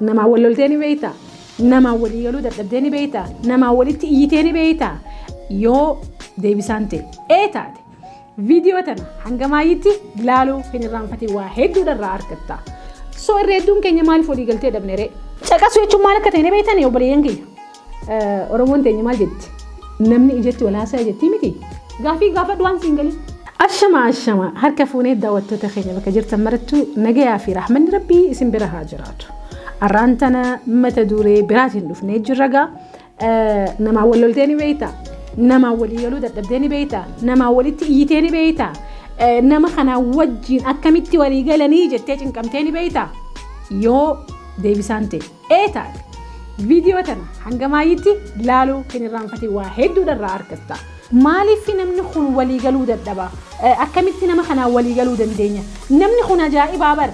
Namaan wal loltee ni beekta. Namaan walii galuu dadhabdee ni beekta. Namaan walitti iyyitee ni beekta. Yoo deebisaan ta'e ee taate viidiyoo tana hanga maayyitti laaluu hin irraanfatiin waa hedduudha irraa argatta. So irra hedduun keenya maaliif walii galtee dhabne ree? Caqasuu jechuun maal akka ta'e ni beektanii obboleeyyan keenya? Oromoon teenya maal jetti? Namni ijatti wal haasaya jettii miti? Gaafii gaafadhu waan siin galin. Ashama ashama harka fuunee daawwattoota keenya bakka jirtan marattuu nagayaa fi rahmanni rabbii isin bira haa jiraatu. Arraan tana mata duree biraatiin dhufnee jirra gaa namaa wal loltee ni beeyta namaa walii galuu dadhabdee ni beeyta namaa walitti iyyitee ni beeyta nama kanaa wajjiin akkamitti walii galanii jettee cinqamtee ni beeyta yoo deebisaan ta'e. Eetaag viidiyoo tana hanga maayyitti laaluu hin irraanfatin waa hedduudha irraa argatta. Maaliif namni kun walii galuu dadhaba? Akkamitti nama kanaan walii galuu dandeenya? Namni kun ajaa'ibaa bar!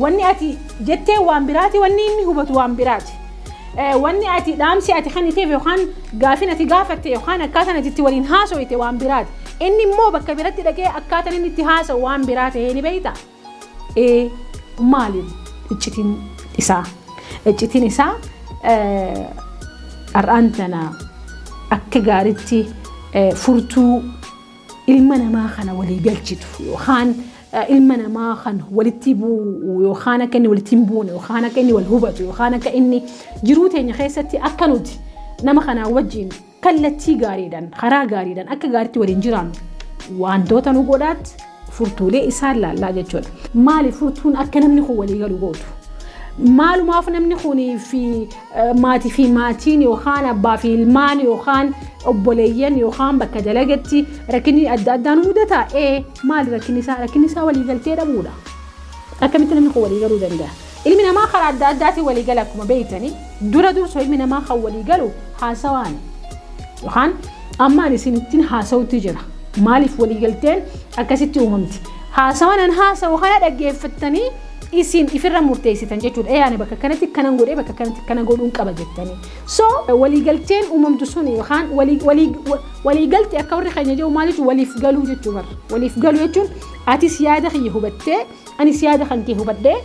Wanni ati jettee waan biraati, wanni inni hubatu waan biraati. Wanni ati dhaamsi ati kenniteef yookaan gaafin ati gaafatte yookaan akkaataan ati itti waliin haasoyte waan biraati. Inni immoo bakka biratti dhaqee akkaataan inni itti haasa'u waan biraa ta'ee ni beekta. e Maaliin iccitiin isaa? Iccitiin isaa har'aan tana akka gaariitti furtuu ilma namaa kana walii galchitu yookaan ilma namaa kan walitti bu'u yookaan akka inni walitti hin buune yookaan akka inni wal hubatu yookaan akka inni jiruu teenya keessatti akka nuti nama kanaa wajjin Kallattii gaariidhaan, karaa gaariidhaan akka gaariitti waliin jiraannu wantoota nu godhaat furtuulee isaan laallaa jechuudha. Maali furtuun akka namni kun walii galu gootu? Maalumaaf namni kunii fi maatii fi maatiin yookaan abbaa fi ilmaan yookaan obboleeyyan yookaan bakka dalagatti rakkinni adda addaa nu mudata? Ee maali rakkinni isaa? Rakkinni isaa walii galtee dhabuudha. Akkamitti namni kun walii galuu danda'a? Ilmi namaa karaa adda addaatiin walii gala akkuma beeytani, dura dursu ilmi namaa kan walii galu haasawaani. Yokaan amma ani isinittin haasawutti jira. Maaliif walii galteen akkasitti uumamti? Haasawan an haasawu kana dhaggeeffattanii isin ifirra murteessitan jechuudha. Ee ani bakka kanatti kanan godhee bakka kanatti kana godhuun qaba jettanii. So walii galteen uumamtu sun yokaan walii walii walii galte akka warri keenya jedhu maal jechuun waliif galuu jechuu barra. Waliif galuu jechuun atis yaada kiyya hubattee Anis yaada kan kee hubadhee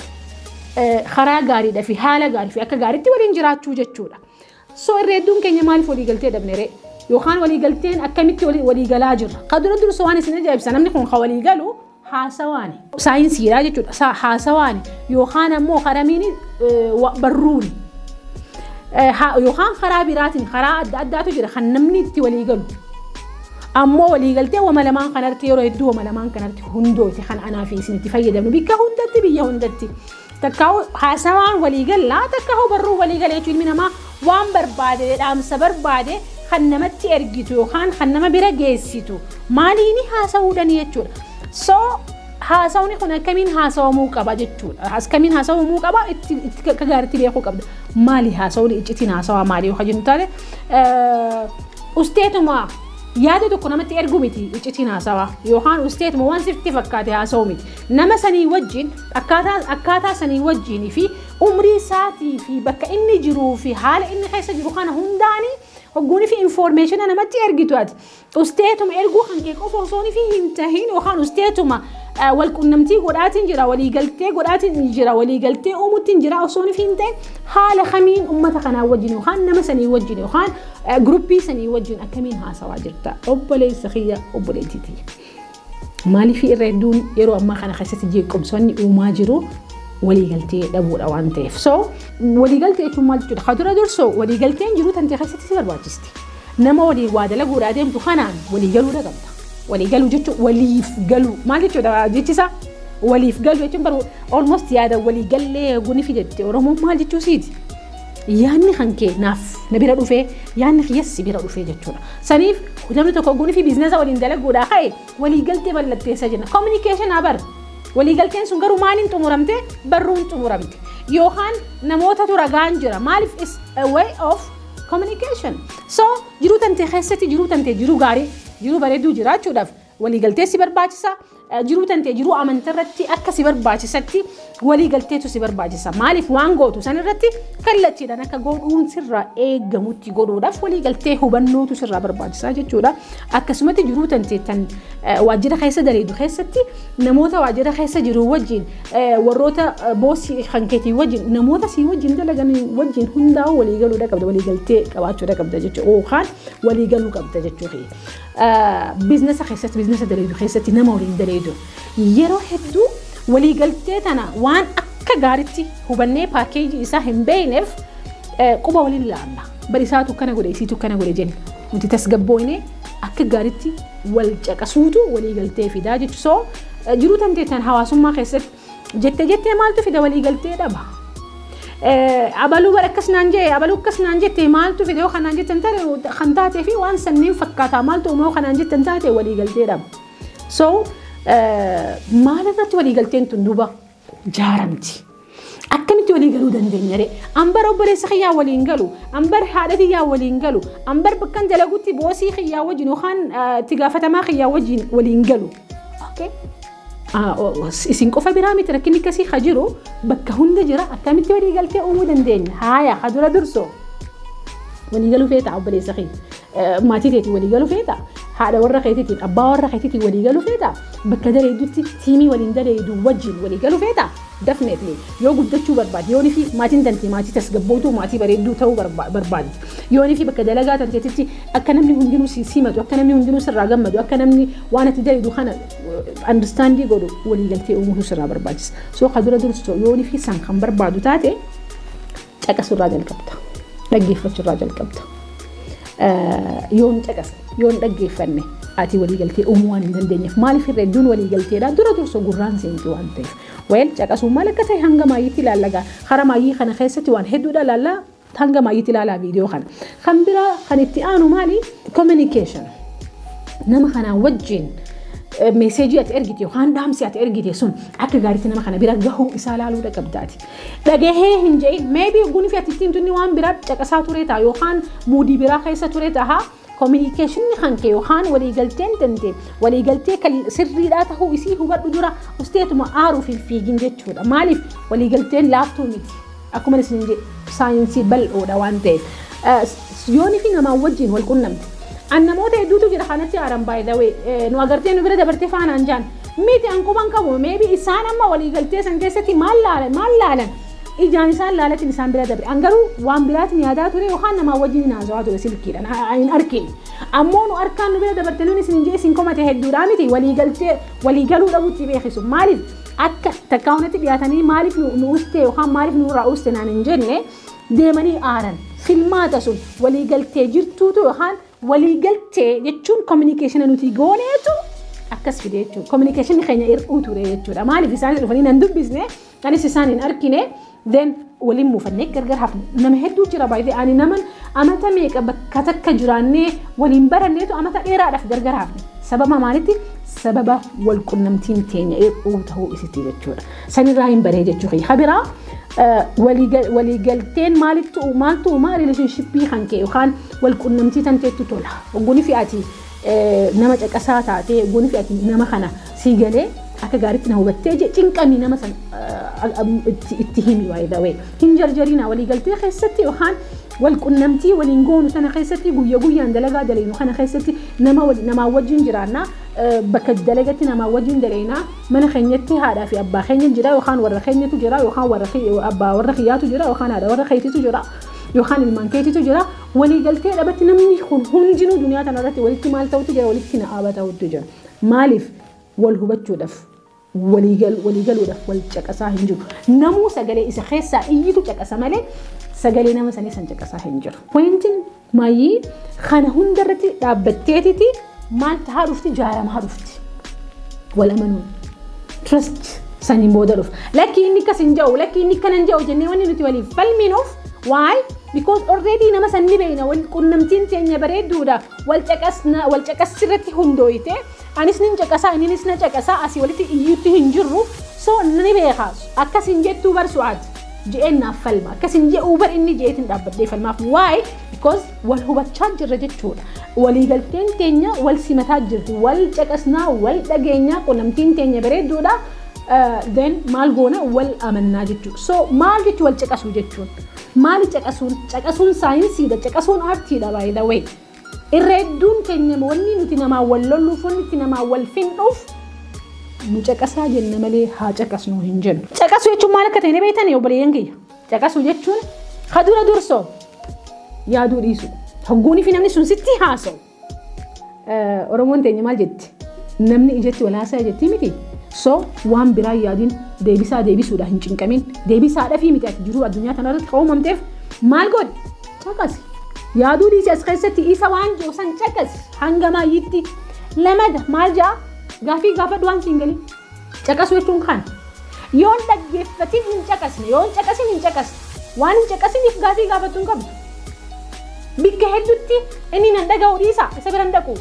karaa gaariidha fi haala gaarii fi akka gaariitti waliin jiraachuu jechuudha. So irra hedduun keenya maaliif walii galtee dhabne ree? Yookaan walii galteen akkamitti walii galaa jirra? Ka dura dursa waan isin ajaa'ibsa namni kun ka walii galu haasawaani. Saayinsiidha jechuudha. Haasawaani yookaan ammoo karamiin barruuni. Yookaan karaa biraatiin karaa adda addaatu jira kan namni itti walii galu. Ammoo waliigaltee wama lamaan kanarratti yeroo hedduu wama lamaan kanarratti hundooti kan anaa fi isinitti fayyadamnu bikka hundatti biyya hundatti. Takkaa'u haasawaan waliigalla takkaa'u barruu waliigala jechuun ilmi namaa waan barbaade dhaamsa barbaade kan namatti ergitu yookaan kan nama bira geessitu maaliini haasa'uudhani jechuudha. So Haasawni kun akkamiin haasawamuu qaba jechuudha. Akkamiin haasawamuu qaba itti itti akka gaariitti beekuu qabda. Maali haasawni iccitiin haasawaa maali yoo jennu taate usteetuma yaada tokko namatti erguu miti iccitiin haasawaa yookaan usteetuma waan sitti fakkaate haasawu miti. Nama sanii wajjin akkaataa akkaataa sanii wajjin fi umrii isaatii fi bakka inni jiruu fi haala inni keessa jiru kana hundaanii hogguunii fi infoormeeshina namatti ergitu ati. Usteetuma erguu kan kee qofa osoo nifi hin tahin yookaan usteetuma walqunnamtii godhaatiin jira waliigaltee godhaatiin jira waliigaltee uumuttiin jira osoo nifi hin tahin haala kamiin ummata kanaa wajjin yookaan nama sanii wajjin yookaan gruppii sanii wajjin akkamiin haasawaa jirta obboleessa kiyya obboleettii tiyya. Maaliifii irra hedduun yeroo ammaa kana keessatti jeequmsoonni uumaa jiru waliigaltee dhabuudha waan ta'eef. So waliigaltee jechuun maal jechuudha? Kan dura dursu waliigalteen jiru tantee keessatti si barbaachisti. Nama waliin waa dalaguudhaa deemtu kanaan waliigaluu qabda. Waliigaluu jechuun waliif galuu maal jechuudha jechisaa? Waliif galuu jechuun garuu almost yaada waliigallee guni fidetti Oromoon maal jechuu siiti? yaanni kan kee naaf na bira dhufee yaanni kiyyas si bira dhufee jechuudha. Saniif namni tokko ogguun fi biizinasa waliin dalaguudhaa ka'e waliigaltee mallatteessa jenna. Kominikeeshinaa bar waliigalteen sun garuu maaliin xumuramte barruun xumuramte yookaan namootatu ragaan jira maaliif is a way of communication. So jiruu tantee keessatti jiruu tantee jiruu gaarii jiruu bareedduu jiraachuudhaaf Walii galtee si barbaachisa. Jiruu tantee jiruu amanta irratti akka si barbaachisatti walii galteetu si barbaachisa. Maaliif waan gootu san irratti kallattiidhaan akka godhuun sirraa eegamutti godhuudhaaf walii galtee hubannootu sirraa barbaachisa jechuudha. Akkasumatti jiruu tantee tan waajjira keessa daleedu keessatti namoota waajjira keessa jiru wajjin warroota boosii kan keetii wajjin namoota sii wajjin dalagan wajjin hundaa'uu walii galuudha qabda walii galtee qabaachuudha qabda jechuudha. Yookaan walii galuu qabda jechuudha. Biiznasa keessatti, biiznasa daleeydu keessatti nama waliin daleeydu yeroo hedduu waliigaltee tana waan akka gaaritti hubannee paakeejii isaa hin beekneef quba waliin laalla. Bari isaatu kana godhe isiitu kana godhe jenna. Nuti tasgabbooyne akka gaaritti wal caqasuutu waliigaltee fidaa jechuudha. Jiruu tanteettan hawaasummaa keessatti Jette jettee maaltu fida walii galtee dhaba. Abaluu bar akkas naan jee abaluu akkas naan jette maaltu fida yoo kanaan jettan taate kan taatee fi waan sanniin fakkaataa maaltu uuma yoo kanaan jettan taate walii galtee dhaba. So maal irratti walii galteen tun duuba jaaramti. Akkamitti walii galuu dandeenya ree? Ambar obboleessa kiyyaa waliin galu, ambar haadha kiyyaa waliin galu, ambar bakkan dalagutti boosii kiyyaa wajjin yookaan itti gaafatamaa kiyyaa wajjin waliin galu. Okay? Isin qofa biraa miti rakkinni akkasii ha jiru bakka hunda jira akkamitti walii galtee uumuu dandeenya haaya ha dura durso walii galuu feetaa obboleessa kee maatii keetiin walii galuu feetaa haadha warra keetiitiin abbaa warra keetiitiin walii galuu feetaa bakka dareeddutti tiimii waliin dareeddu wajjin walii galuu feetaa dafneetni yoo guddachuu barbaade yoonii fi maatiin tantee maatii tasgabbootuu maatii bareedduu ta'uu barbaade yoonii fi bakka dalagaa tanteetitti akka namni hundinuu si simatu akka namni hundinuu sirraa gammadu akka namni waan ati dareeddu kana understandii godhu waliigaltee uumuutu sirraa barbaachisa. So ka dura dursu yoonii fi isaan kan barbaadu taate caqasurraa jalqabda. Dhaggeeffachurraa jalqabda. Yoon caqasa yoon dhaggeeffanne ati waliigaltee uumuu waan hin dandeenyeef maaliif irra hedduun waliigalteedha dura dursa gurraan seentu waan ta'eef. Weel caqasuu maal akka ta'e hanga maayyiitti ilaallagaa hara maayyii kana keessatti waan hedduudha ilaallaa Hanga maayyitti ilaalaa viidiyoo kana. Kan biraa kan itti aanu maali? Communication. Nama kanaa wajjin meeseejii ati ergite yookaan dhaamsi ati ergite sun akka gaariitti nama kana bira gahuu isaa laaluu dhaqabdaati. Dhagahee hin jedhin meebii gunfi ati ittiin tunni waan biraa caqasaa ture ta'a yookaan muudii biraa keessa ture ta'a. Kominikeeshinni hanke yookaan waliigalteen tente waliigaltee kan sirriidhaa tahuu isii hubadhu dura usteetuma aaruuf hin fiigin jechuudha. Maaliif waliigalteen laaftuu miti. Akkuma isin jedhe saayinsii bal'oodha waan ta'eef. Yoonii fi namaan wajjin wal qunnamte. An namoota hedduutu jira kanatti aaran by the way. Nu agartee nu bira dabartee faanaan jaan. Miti an quban qabu. Maybe isaan amma waliigaltee san keessatti maal laalan? Ijaan isaan laalatiin isaan bira dabre. An garuu waan biraatiin yaadaa ture yookaan namaa wajjin hin haasawaa ture silkiidhaan ha- ha- hin arkin. Ammoo nu harkaan nu bira dabarte nuun isin hin jee isin komate hedduudhaa miti walii galtee walii galuu dhabuutti beekisu. Maaliif akka takkaa hunatti dhiyaatanii maaliif nu nu ustee yookaan maaliif nu irraa uste naan hin jenne deemanii aaran. Filmaata sun walii galtee jirtuutu yookaan walii galtee jechuun kominikeeshina nuti gooneetu akkas fide jechuudha. Kominikeeshinni keenya hir'uu ture jechuudha. Maaliif isaan dhufanii nan dubbisne Anis isaan hin arkine then waliin muufannee gargar hafne. Nama hedduu jira baay'ee ani naman amata meeqa bakka takka jiraannee waliin baranneetu amata dheeraadhaaf gargar hafne. Sababa maalitti? Sababa wal qunnamtiin teenya hir'uu ta'uu isitti jechuudha. Sanirraa hin baree jechuu kiyya. Habiraa waliigalteen maalittu maaltu uumaa rileeshinshippii kan kee yookaan wal qunnamtii tanteettu tola. Ogguun fi ati nama caqasaa taatee eeguun fi ati nama kana sii galee akka gaariitti na hubattee jee cinqamii nama san itti himi by the way hin jarjarinaa walii galtee keessatti yookaan wal qunnamtii waliin goonu sana keessatti guyya guyyaan dalagaa daleynu kana keessatti nama namaa wajjin jiraannaa bakka dalagatti namaa wajjin daleynaa mana keenyatti haadhaa fi abbaa keenya jira yookaan warra keenyatu jira yookaan warra abbaa warra kiyyaatu jira yookaan haadha warra keetitu jira yookaan ilmaan keetitu jira Waliigaltee dhabatti namni kun hundinuu duniyaa tana irratti walitti maal ta'utu jira walitti na'aaba ta'utu jira. Maaliif wal hubachuudhaaf waliigaluudhaaf wal caqasaa hin jiru. Namuu sagalee isa keessaa iyyitu caqasa malee sagalee nama sanii san caqasaa hin jiru. Pointiin maayii kana hunda irratti dhaabbatteetiti Maal tahaa dhufti jaaramaa dhufti. Wal amanuun. Trust saniin booda dhufa. Lakkii inni akkas hin ja'u lakkii inni akkana hin ja'u jennee wanni nuti waliif falminuuf why because already nama san ni beeyna wal qunnamtiin teenya bareedduudha wal caqasna wal caqassi irratti hundooyte anis nin caqasaa inninis na caqasaa asii walitti iyyuutti hin jirru so ni beeka akkas hin jettuu bar su'aad je'een naaf falma akkas hin je'uu bar inni je'eetiin dhaabbadhee falmaaf why because wal hubachaa jirra jechuudha. Waliigalteen keenya wal simataa jirti, wal caqasnaa, wal dhageenyaa, qunnamtiin keenya bareedduudha. Then maal goona wal amannaa jechuudha. So maal jechuun wal caqasuu jechuun? Maali caqasuun? Caqasuun saayinsiidha, caqasuun aartiidha by the way. Irra hedduun keenya wanni nuti namaa wal lolluuf, wanni nuti namaa wal findhuuf nu caqasaa jenna malee haa caqasnu hin jennu. Caqasuu jechuun maal akka ta'e ni beektanii obboleeyyan kiyya? Caqasuu jechuun ka dura dursoo yaaduu dhiisuu. Hogguunii fi namni sun sitti haasa'u. Oromoon teenya maal jetti? Namni ijatti wal haasa'e jettii miti. So waan biraa yaadin deebisaa deebisuudha hin cinqamin. Deebisaa dhafii miti ati jiruu addunyaa kanarratti ka uumamteef maal godhi? Caqasi. Yaaduu dhiisi as keessatti isa waan jiru san caqasi hanga maayyitti. Lamada maal ja'a? Gaafii gaafadhu waan siin galii. Caqasuu jechuun kana. Yoo hin dhaggeeffatin hin caqasne, yoo hin caqasin hin caqasne. Waan hin caqasiniif gaafii gaafachuu hin qabdu. Bikka hedduutti inni nan dhaga'u dhiisa isa bira hin dhaqu.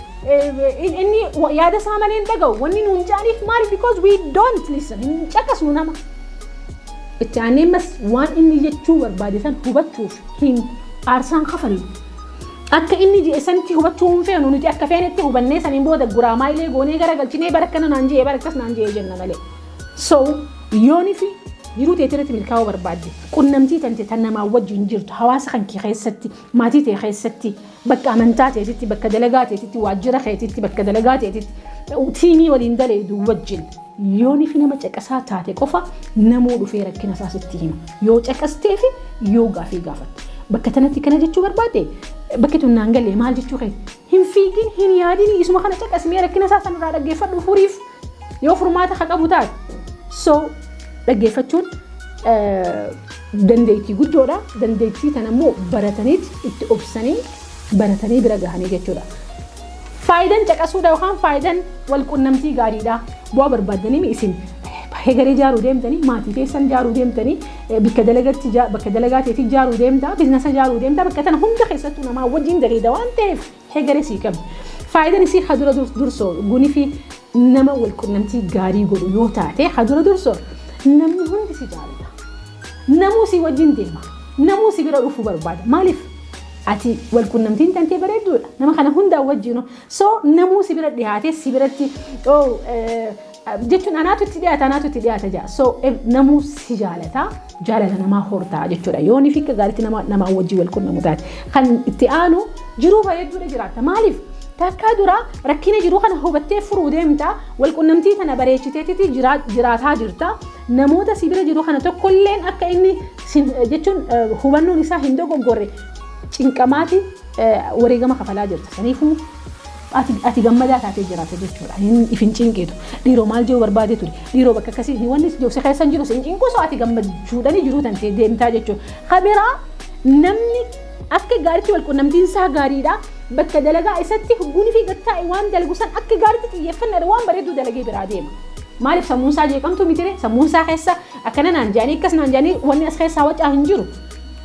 Inni yaada isaa malee hin dhaga'u. Wanni nuun jedhaniif maali? Because we don't listen. Hin caqasnu nama. Itti aanee ammas waan inni jechuu barbaade san hubachuuf hin aarsaan kafallu. Akka inni je'e sanitti hubachuu hin feenu nuti akka feenetti hubannee saniin booda guraa maayilee goonee gara galchinee bara akkana naan je'e bara akkas naan je'e jenna malee. So yoonifi jiruu teetii irratti milkaa'uu barbaadde qunnamtii tante tan namaa wajjin jirtu hawaasa kan kee keessatti maatii tee keessatti bakka amantaa teetitti bakka dalagaa teetitti waajjira keetitti bakka dalagaa teetitti tiimii waliin daleedu wajjin Yoonifi nama caqasaa taate qofa namuu dhufee rakkina isaa sitti hima. Yoo caqasteefi yoo gaafii gaafatte. Bakka tanatti kana jechuu barbaadde bakki tun naan galee maal jechuu keeti? Hin fiigin, hin yaadini, isuma kana caqasimee rakkina isaa sanirraa dhaggeeffadhu furiif yoo furmaata ka qabu taate. So dhaggeeffachuun dandeettii guddoodha. Dandeettii tanammoo barataniit itti obsanii baratanii bira gahanii jechuudha. Faayidan caqasuudha yookaan faayidan walqunnamtii gaariidha. Bu'aa barbaaddanii isin hegaree ijaaruu deemtanii maatii keessan ijaaruu deemtanii bakka dalagatti bakka dalagaa teetii ijaaruu deemta biiznasa ijaaruu deemta bakka tana hunda keessattuu namaa wajjin daleeda waan ta'eef hegaree sii qabdi. Faayidan isii ka dura dursoo gunifi Nama wal qunnamtii gaarii godhu yoo taate haa dura dursu namni hundi si jaalata. Namuu si wajjin deema. Namuu si bira dhufuu barbaada. Maaliif? Ati wal qunnamtiin tantee bareedduudha. Nama kana hundaa wajjin so namuu si bira dhiyaatee si biratti oh, eh, jechuun anaatu itti dhiyaata anaatu itti dhiyaata jaa. So eh, namuu si jaalata. jaalala namaa hortaa jechuudha. Yoo nifi akka gaariitti nama namaa wajjin wal qunnamu taate. Kan itti aanu jiruu bareedduudha jiraatta. Maaliif? Takkaa dura rakkina jiru kana hubattee furuu deemta. Wal qunnamtii kana bareechiteetiti jiraataa jirta. Namoota si bira jiru kana tokkolleen akka inni jechuun hubannoon isaa hin dogoggorre cinqamaati wareegama kafalaa jirta. Saniifuu Ati ati gammadaa taatee jiraata jechuudha. Hin if hin cinqiitu. Dhiiroo maal jechuu barbaadee ture. Dhiiroo bakka akkasii hin wanni si keessa hin jiru si hin cinqu osoo ati gammachuudhani jiruu tantee deemtaa jechuudha. Kabiraa namni akka gaariitti wal qunnamtiin isaa gaariidha. Bakka dalagaa isatti hugguun fi gattaa'e waan dalagu san akka gaariitti xiyyeeffannaadha waan bareedduu dalagee biraa deema. Maaliif sammuun isaa jeeqamtu mitire sammuun isaa keessa akkana naan jedhanii akkas naan jedhanii wanni as keessaa wacaa hin jiru.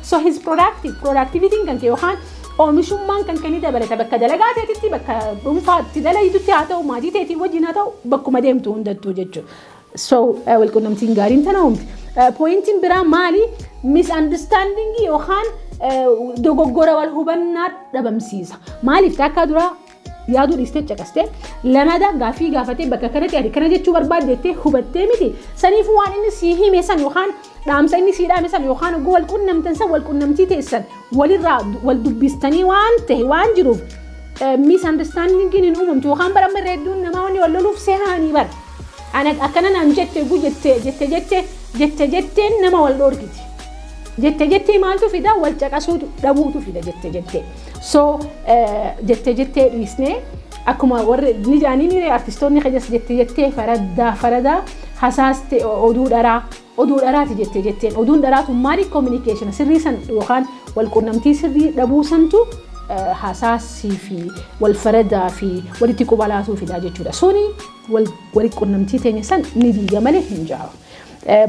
So his productive, productivity'n kan kee yookaan oomishummaan kan kee ni dabalata bakka dalagaa teetitti bakka dhuunfaatti dalayitutti haa ta'u maatii teetii wajjin haa ta'u bakkuma deemtu hundattuu jechuudha. So eh, walqunnamtiin gaariin tana uumti. Eh, Pooyintiin biraa maali? Misunderstanding yookaan eh, dogoggora wal hubannaa dhabamsiisa. Maaliif taakkaa duraa yaaduu dhiistee caqastee lamadaa gaaffii gaafatee bakka kanatti ati kana jechuu barbaadde jettee hubattee miti saniif waan inni sii hime san yookaan dhaamsa inni sii dhaame san yookaan oguu wal qunnamtan san wal qunnamtii teessan walirraa wal dubbistanii waan ta'e waan jiruuf misunderstandingiin hin uumamtu yookaan bara amma irra hedduun namaa wanni wal loluuf sehaanii bara ana akkana naan jette oguu jette jette jette jette jetteen nama wal dhoorgiti jette jettee maaltu fida wal caqasuutu dhabuutu fida jette jettee. So jettee jettee dhiisnee akkuma warri ni jaanii ni artistoonni keenyas jettee jettee faradaa faradaa hasaaste oduu dharaa oduu dharaati jettee jetteen oduun dharaatu maali kominikeeshina sirrii san yookaan walqunnamtii sirrii dhabuu santu hasaasii fi wal faradaa fi walitti qubalaatuu fidaa jechuudha. Suni walitti qunnamtii teenya san ni diiga malee hin jaaru.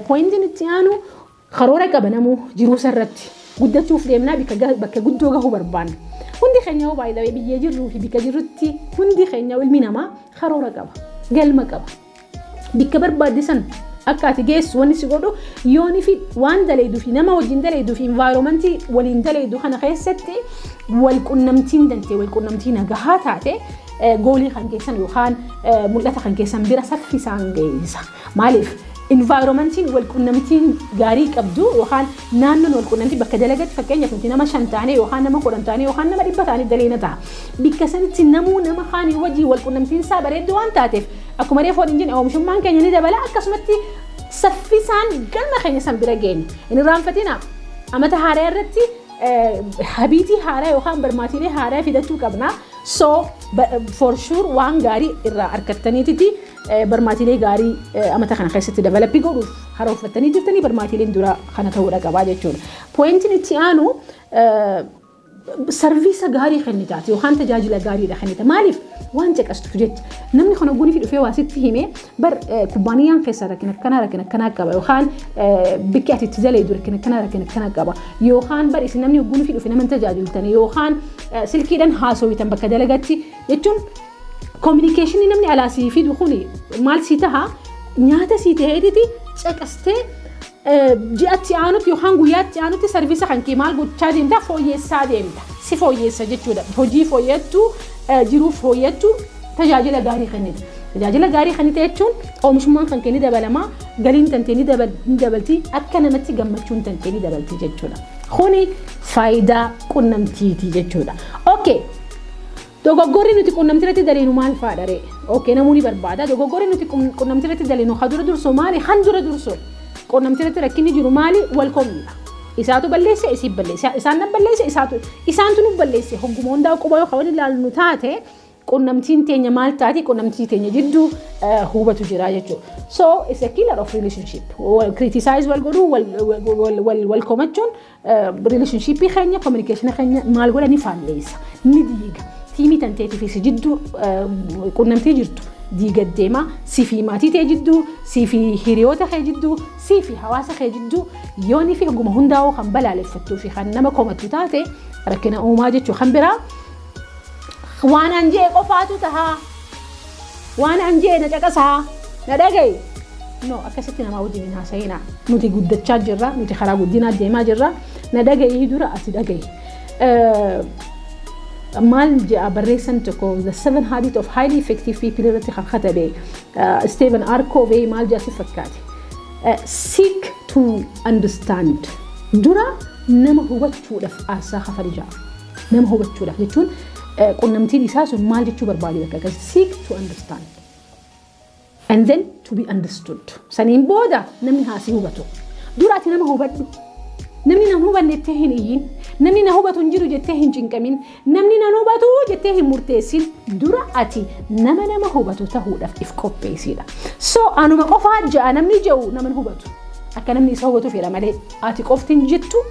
Pooyintiin itti aanu Karoora qabanamu jiruusa irratti guddachuuf deemnaa bakka guddoo gahuu barbaanna. Hundi keenya yoo baay'ee biyyee jirruu fi bika jirrutti hundi keenya ilmi namaa karoora qaba. Galma qaba. Bikka barbaadde san akka ati geessu wanni si godhu yoon fi waan daleedu fi nama wajjin daleedu fi envaayiroomantii waliin daleedu kana keessatti wal qunnamtiin dantee wal qunnamtii nagahaa taate goolii kan keessan yookaan mul'ata kan keessan bira saffisaan geessa. Maaliif? Environmentiin walqunnamtiin gaarii qabdu yookaan naannoon walqunnamtii bakka dalagatti fakkeenyaaf nuti nama shan taanee yookaan nama kudhan taanee yookaan nama dhibba taanee daleena ta'a. Bikka sanitti namuu nama kaanii wajjin walqunnamtiin isaa bareeddu waan taateef akkuma reefu waliin jenne oomishummaan keenya ni dabala akkasumatti saffisaan galma keenya san bira geenya. Hin irraanfatina amata haaraa irratti habiitii haaraa yookaan barmaatiilee haaraa fidachuu qabna. So for sure waan gaarii irraa argattaniititi. Barmaatiilee gaarii amata kana keessatti develop godhuuf harooffattanii jirtanii barmaatiileen duraa kana ta'uudha qabaa jechuudha. Pooyintiin itti aanu sarviisa gaarii kennitaati yookaan tajaajila gaariidha kennita. Maaliif waan caqastuuf jecha namni kana gunifi dhufee waa sitti himee bar kubbaaniyaan keessa rakkina akkanaa rakkina akkanaa qaba yookaan bikki ati itti dalaydu rakkina akkanaa rakkina akkanaa qaba yookaan bar isin namni gunifi dhufe nama hin tajaajiltani yookaan silkiidhaan haasawitan bakka dalagatti jechuun Kominikeeshinii namni alaa sii fidu kun maal sii taha nyaata sii ta'eetiti caqastee ji'atti aanutti yookaan guyyaatti aanutti sarviisa kan kee maal gochaa deemta fooyyessaa deemta si fooyyessa jechuudha hojii fooyyattu jiruu fooyyattu tajaajila gaarii kennita tajaajila gaarii kennita jechuun oomishummaan kan kee ni dabalama galiin kan kee ni dabalti akka namatti gammachuun kan kee ni dabalti jechuudha kuni faayidaa qunnamtiiti jechuudha okay Dogoggorri nuti qunnamtiirratti daleenu maal faadha ree? Ok namuu ni barbaada. Dogoggorri nuti qunnamtiirratti daleenu ha dura dursoo maali? Han dura dursoo qunnamtiirratti rakkinni jiru maali? Wal komiidha. Isaatu balleesse isiin balleesse. Isaan nan balleesse isaatu isaantu nu balleesse. Hogguma hundaa quba yoo kawan ilaalnu taate qunnamtiin teenya maal taati qunnamtii teenya jidduu hubatu jira jechuudha. So it's a killer of relationship. Criticize wal godhuu wal komachuun Rileeshinshiippii keenya kominikeeshina keenya maal godha ni faalleessa ni diiga tiimii tanteetii fi si jidduu qunnamtii jirtu diiga deema si fi maatii ta'e jidduu si fi hiriyoota kee jidduu si fi hawaasa kee jidduu yoonii fi oguma hundaa'uu kan balaaleffattuu fi kan nama komattu taate rakkina uumaa jechuu kan biraa waanaan jee qofaatu tahaa. Waan an je'e na caqasaa, na dhagayi. No, akkasitti namaa wajjin hin haasayinaa. Nuti guddachaa jirra, nuti karaa guddinaa deemaa jirra. Na dhagayii dura ati dhagayi. Eh, maal je'a barreessan tokko the seven habit of highly effective people irratti kan katabe eh, Stephen R. Covey maal je'a si fakkaate Eh, seek to understand dura nama hubachuudhaaf aarsaa kafali ja'a. Nama hubachuudhaaf jechuun qunnamtiin isaa sun maal jechuu barbaade bakka akkas seek to understand and then to be understood. Saniin booda namni haa si hubatu. Duraati nama hubadhu. Namni nan hubanne jettee hin iyyin. Namni na hubatu hin jiru jettee hin cinqamin. Namni nan hubatu jettee hin murteessin. Dura ati nama nama hubatu tahuudhaaf if qopheessiidha. So anuma qofaa ja'a namni ja'u nama hubatu. Akka namni isa hubatu fedha malee ati qofti hin jettu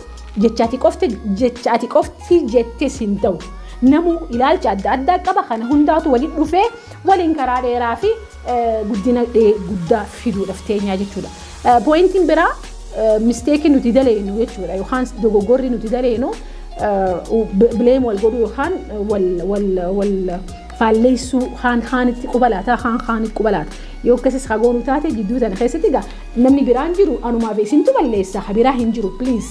Jecha ati qofti jecha ati qofti jettis hin ta'u. Namuu ilaalcha adda addaa qaba kana hundaatu waliin dhufee waliin karaa dheeraa fi guddina guddaa fiduudhaaf teenyaa jechuudha. Pooyintiin biraa misteekii nuti daleenu jechuudha yookaan dogoggorri nuti daleenu bileem wal godhuu yookaan wal wal wal faalleessuu kaan kaanitti quba laataa kaan kaaniif quba laata yoo akkasis ha goonu taate gidduu tana keessatti egaa namni biraan jiru anumaaf isintu balleessa ha biraa hin jiru please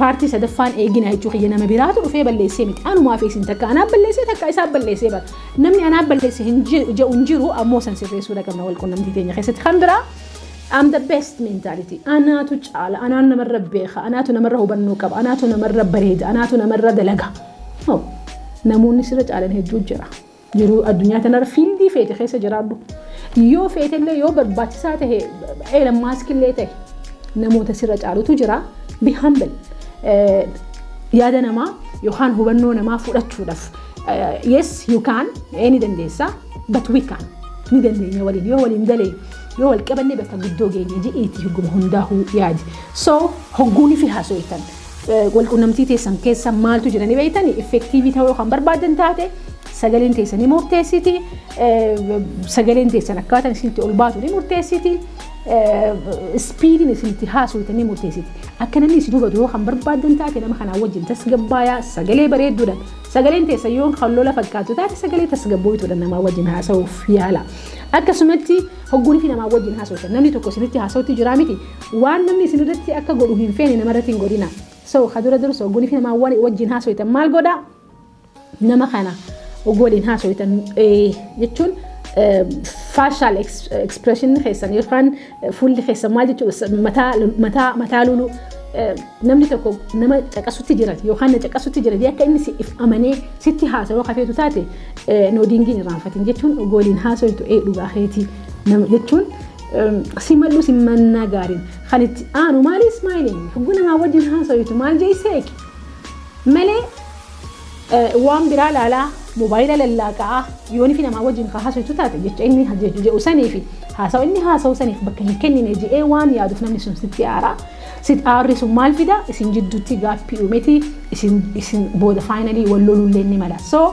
paartii sadaffaan eegina jechuu kiyya nama biraatu dhufee balleessee miti anumaaf isin takka anaaf balleessee takka isaaf balleessee bara namni anaaf balleesse hin jedhu hin jiru ammoo san sirreessuudha qabna wal qunnamtii teenya keessatti kan biraa I'm the best mentality. Anaatu caala, anaan namarra beeka, anaatu namarra hubannoo qaba, anaatu namarra bareeda, anaatu namarra dalaga. No. Namoonni sirra caalan hedduu jira. Jiruu addunyaa tanarra fiildii feete keessa jiraadhu. Yoo feetellee yoo barbaachisaa tahe Elon Musk illee tahe namoota sirra caalutu jira. Be humble. Eh, Yaada namaa yookaan hubannoo namaa fudhachuudhaaf eh, yes you can eh, ni dandeessa but we can ni dandeenya waliin yoo waliin dalee yoo wal qabanne bakka guddoo geenye ji'iiti hoguma hundaahuu yaadi. So hogguunii fi haasoytan Walqunnamtii teessan keessa maaltu jira ni beektani? Effektiivii ta'uu kan barbaadan taate sagaleen teessan ni murteessiti. Sagaleen teessan akkaataan isinitti ol baatu ni murteessiti. Ispiidiin isinitti haasoftan ni murteessiti. Akka namni isin hubatu yoo kan barbaadan taate nama kanaa wajjin tasgabbaayaa sagalee bareedduudha. Sagaleen teessan yoo kan lola fakkaatu taate sagalee tasgabbooytuudha namaa wajjin haasa'uuf yaala. Akkasumatti hogguun fi namaa wajjin haasoftan namni tokko isinitti haasa'utti jiraa miti Waan namni isin irratti akka godhu hin feene nama irratti hin godhina. So ka dura dursa oguu fi namaa wali wajjin haasoytan maal godha? Nama kana oguu waliin haasoytan jechuun facial expression keessan yookaan fuulli keessan maal jechuudha mataa mataa mataa lulu namni tokko nama caqasutti jiran yookaan na caqasutti jiran akka inni siif amanee sitti haasawaa kafeetu taate noodiingiin irraanfatin jechuun oguu waliin haasoytu ee dhugaa keetii jechuun Simadhu simannaa gaariin kan itti aanu maali ismaayiliin hogguu namaa wajjin haasawitu maal jee seeq malee waan biraa laalaa moobaayila lallaaqaa yoon fi namaa wajjin kaa haasawitu taate jecha inni jedhu sanii fi haasawa inni haasawu saniif bakka hin kennine je'ee waan yaaduuf namni sun sitti aaraa sit aarri sun maal fida isin jidduutti gaappii uumeti isin booda faayinalii wal lolullee ni mala so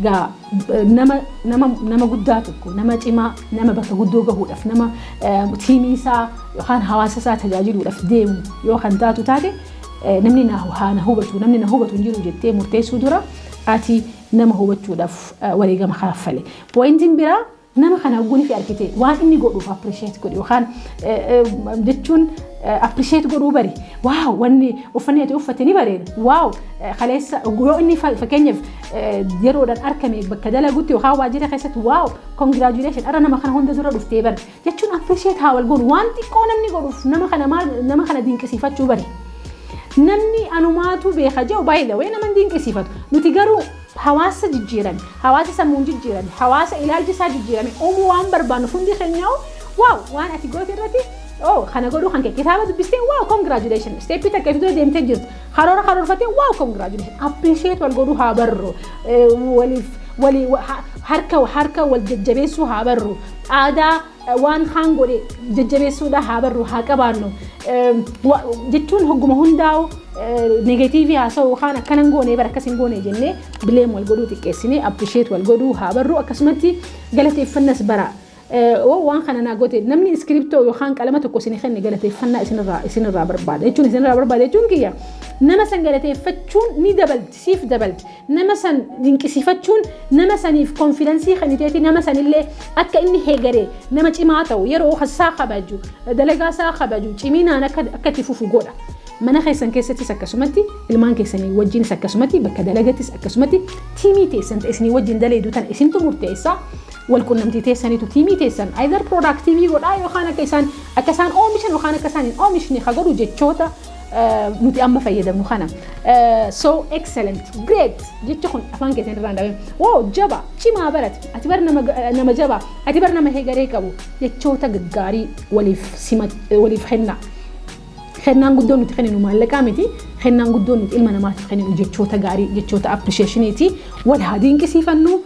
gaa nama nama nama guddaa tokko nama cimaa nama bakka guddoo gahuudhaaf nama tiimii isaa yookaan hawaasa isaa tajaajiluudhaaf deemu yoo kan taatu taate namni na hubatu namni na hubatu hin jiru jettee murteessuu dura ati nama hubachuudhaaf wareegama kaaffale. Pooyintiin biraa Nama kana hogguu nifi argite waan inni godhuuf appreciate godhi yookaan jechuun appreciate godhuu bari waaw wanni uffanni ati uffate ni bareeda waaw kaleessa yoo inni fakkeenyaaf yeroodhaan argame bakka dalagutti yookaan waajjira keessatti waaw congratulation dhala nama kana hunda dura dhuftee bari jechuun appreciate haa wal godhu waan xiqqoo namni godhuuf nama kana maal nama kana dinqisiifachuu bari. Namni anumaatu beeka jedhu baay'ee nama dinqisiifatu nuti garuu Hawaasa jijjiirame, hawaasa sammuun jijjiirame, hawaasa ilaalchi isaa jijjiirame uumuu waan barbaannuuf hundi keenyaa'u wow waan ati goote irratti oh kana godhuu kan kee kitaaba dubbistee wow congratulations steppii takka itti dura deemtee jirtu karoora karoorfattee wow congratulations appreciate wal godhuu haa barru waliif walii harka harka wal jajjabeessuu haa barru aadaa Waan kaan godhe jajjabeessuudha haa barru haa qabaannu jechuun hogguma hundaa'u negatiivii haasa'u yookaan akkana hin goone bara akkas hin goone jennee bileem wal godhuu xiqqeessinee apprisheet wal godhuu haa barru akkasumatti galateeffannas bara. Oo waan kana naa goote namni iskiriptoo yookaan qalama tokko isin kenne galateeffannaa isinirraa barbaada jechuun isinirraa barbaada jechuun kiyya nama san galateeffachuun ni dabalti. siif dabalti. Nama san dinqisiifachuun nama saniif konfidansii kenniteeti nama sanillee akka inni hegeree nama cimaa ta'u, yeroo isaa kabaju, dalagaa isaa kabaju, ciminaan akka akka itti fufu godha. Mana keessan keessattis akkasumatti, ilmaan keessanii wajjinis akkasumatti, bakka dalagattis akkasumatti tiimii teessan ta isinii wajjin daleedu tana isintu murteessa. Wal qunnamtii teessaniitu tiimii teessan either productivii godhaa yookaan akka isaan akka isaan oomishan yookaan akka isaan hin oomishne ka godhu jechoota nuti amma fayyadamnu kana. So excellent, great jecha kun afaan keessan irraan dhabe. Woo jaba, cimaa barate, ati bar nama jaba, ati bar nama hegaree qabu jechoota gaggaarii waliif simat waliif kenna. Kennaan guddoon nuti kenninu maallaqaa miti. Kennaan guddoon nuti ilma namaatiif kenninu jechoota gaarii, jechoota appreciationiiti. Wal haa dinqisiifannu,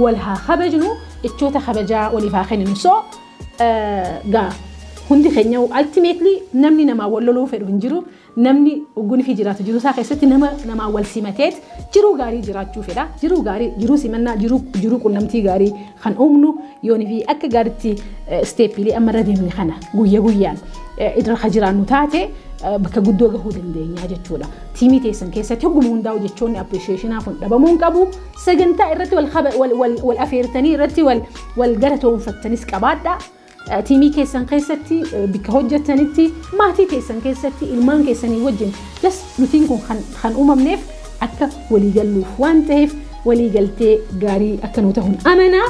wal haa kabajnu, jechoota kabajaa waliif haa kenninu. So Gaa hundi keenya ultimately namni namaa wal loluu fedhu hin jiru. Namni ogguun fi jiraatu jiruu isaa keessatti nama namaa wal simateet jiruu gaarii jiraachuu fedha. Jiruu gaarii, jiruu simannaa, jiruu jiruu qunnamtii gaarii kan uumnu yoon fi akka gaaritti isteeppiilee amma irra deemne kana guyya guyyaan irra kan jiraannu taate bakka guddoo gahuu dandeenya jechuudha. Tiimii teessan keessatti hogguma hundaa'u jechoonni appreciationaa kun dhabamuu hin qabu. Sagantaa irratti wal afeertanii irratti wal Wal galatoomfattanis qabaadhaa. Tiimii keessan keessatti bakka hojjettanitti maatii keessan keessatti ilmaan keessanii wajjin jas nutiin kun kan uumamneef akka walii galluuf waan ta'eef walii galtee gaarii akka nuu ta'uun amanaa.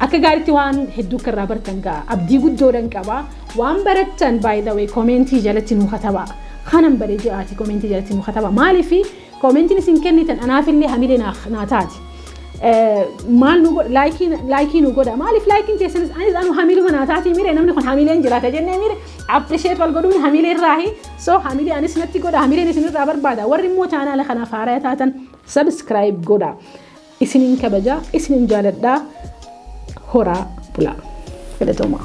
Akka gaariitti waan hedduu akka irraa bartan ga'a. Abdii guddoodhan qaba. Waan barattan by the way komeentii jalatti nuu katabaa. Kanan baree jiraati komeentii jalatti nuu katabaa. Maaliif Komentin isin kennitan anaafillee hamilee naa taati. Maal nu godha laayikii nu godha maaliif laayikiin teessanis anis anu hamiluma naa taati mire namni kun hamileen jiraata jennee mire appreciate wal godhuun hamilee irraahi so hamilee anis natti godha hamileen isin irraa barbaada warri immoo chaanaala kanaaf haaraya taatan subscribe godha isinin kabaja isinin jaaladha horaa bulaa. Galatoomaa.